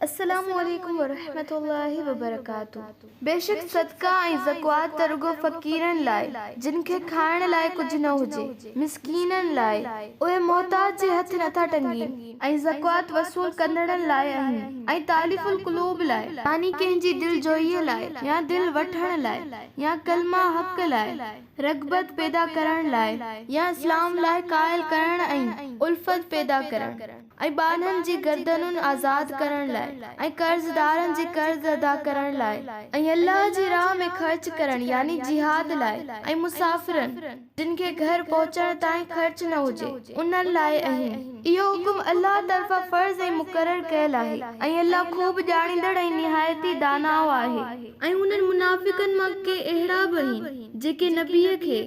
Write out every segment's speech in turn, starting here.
السلام عليڪم ورحمة الله وبرڪاته بيشڪ صدقه ۽ زڪوات ته رڳو فقيرن لاء جن کي کائڻ لاء ڪجهه نه هجي، مسڪينن لاء، اهي محتاج جي هٿ نه ٿا ٽنگين، ۽ زڪوات وصول ڪندڙن لاء آهن، ۽ تاليف القلوب لاء، يعني ڪنهن جي دلجوئيء لاء، يا دل وٺڻ لاء، يا ڪلمه حق لاء. رغبت پيدا ڪرڻ لاء يا اسلام لاء قائل ڪرڻ ۽ الفت پيدا ڪرڻ ۽ ٻانهن جي گردنون آزاد ڪرڻ لاء ۽ قرضدارن جي قرض ادا ڪرڻ لاء ۽ الله جي راهه ۾ خرچ ڪرڻ يعني جهاد لاء ۽ مسافرن جن کي گهر پهچڻ تائين خرچ نه هجي انهن لاء اهين. اهو حڪم الله طرفان فرض ۽ مقرر ڪيل آهي ۽ الله خوب ڄاڻيندڙ ۽ نهايت ئي داناء آهي. ۽ انهن منافقن مان ڪي اهڙا به آهن جيڪي نبيء کي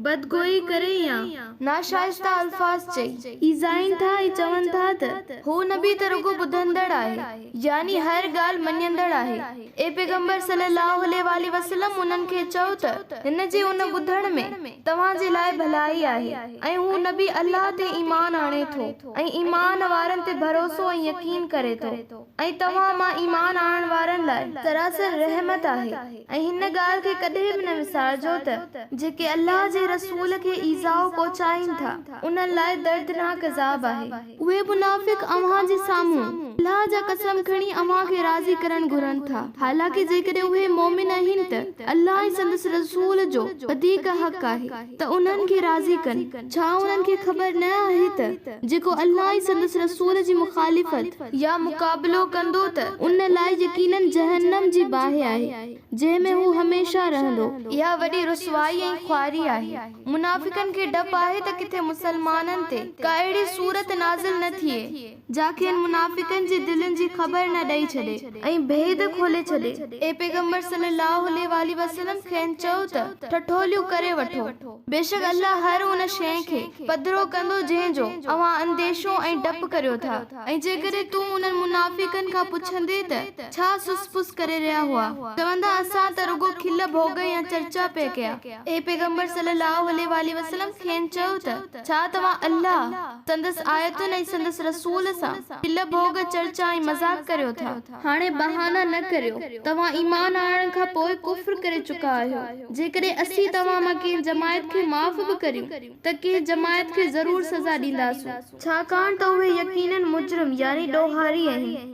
بدگوئي ڪري يا ناشائسته الفاظ چئي ايذائين ٿا ۽ چون ٿا ته هو نبي ته رڳو ٻڌندڙ آهي يعني هر ڳالهه مڃيندڙ آهي اي پيغمبر صلّي اللّٰه عليه واٰله وسلّم انهن کي چئو ته هن جي ان ٻڌڻ ۾ توهان جي لاء ڀلائي آهي ۽ هو نبي الله تي ايمان آڻي ٿو ۽ ايمان وارن تي ڀروسو ۽ يقين ڪري ٿو. ۽ توهان مان ايمان آڻڻ وارن لاء سراسر رحمت آهي ۽ هن ڳالهه کي ڪڏهن به نه وسارجو ته جيڪي الله جي رسول کي ايذاء پهچائين ٿا انهن لاء دردناڪ عذاب آهي. اهي منافق اوهان جي سامهون الله جا قسم کڻي اوهان کي راضي ڪرڻ گهرن ٿا حالانڪه جيڪڏهن اهي مؤمن آهن ته الله ۽ سندس رسول جو وڌيڪ حق آهي. ته انهن کي راضي ڪن، ڇا انهن کي خبر نه آهي ته جيڪو الله ۽ سندس رسول جي مخالفت يا مقابلو ڪندو ته ان لاء يقيناً جهنم جي باهه آهي جنهن ۾ هو هميشه رهندو. اها وڏي رسوائي ۽ خواري آهي. منافقن کي ڊپ آهي ته ڪٿي مسلمانن تي ڪا اهڙي سورت نازل نه ٿئي. جا کين منافقن جي دلين جي خبر نه ڏئي ڇڏي ۽ ڀيد کولي ڇڏي. اي پيغمبر صلّي اللّٰه عليه واٰله وسلّم کين چئو ته، ٺٺوليون ڪري وٺو، بيشڪ الله هر ان شيء کي پڌرو ڪندو جنهن جو اوهان انديشو ۽ ڊپ ڪريو ٿا ۽ جيڪڏهن تون انهن منافقن کان پڇندين ته ڇا سس پس ڪري رهيا هئا؟ چوندا اسان ته رڳو کل ڀوڳ يا چرچا پئي ڪيا. اي پيغمبر صلّي اللّٰه عليه واٰله وسلّم کين چئو ته، ڇا توهان الله، سندس آيتن ۽ سندس رسول سان کل ڀوڳ، چرچا ۽ مذاق ڪريو ٿا؟ هاڻي بهانا نه ڪريو، توهان ايمان آڻڻ کان پوء ڪفر ڪري چڪا آهيو. جيڪڏهن اسين توهان مان ڪنهن جماعت کي معاف به ڪريون ته ڪنهن جماعت کي ضرور سزا ڏينداسون. ڇاڪاڻ ته اهي يقيناً مجرم يعني ڏوهاري آهن.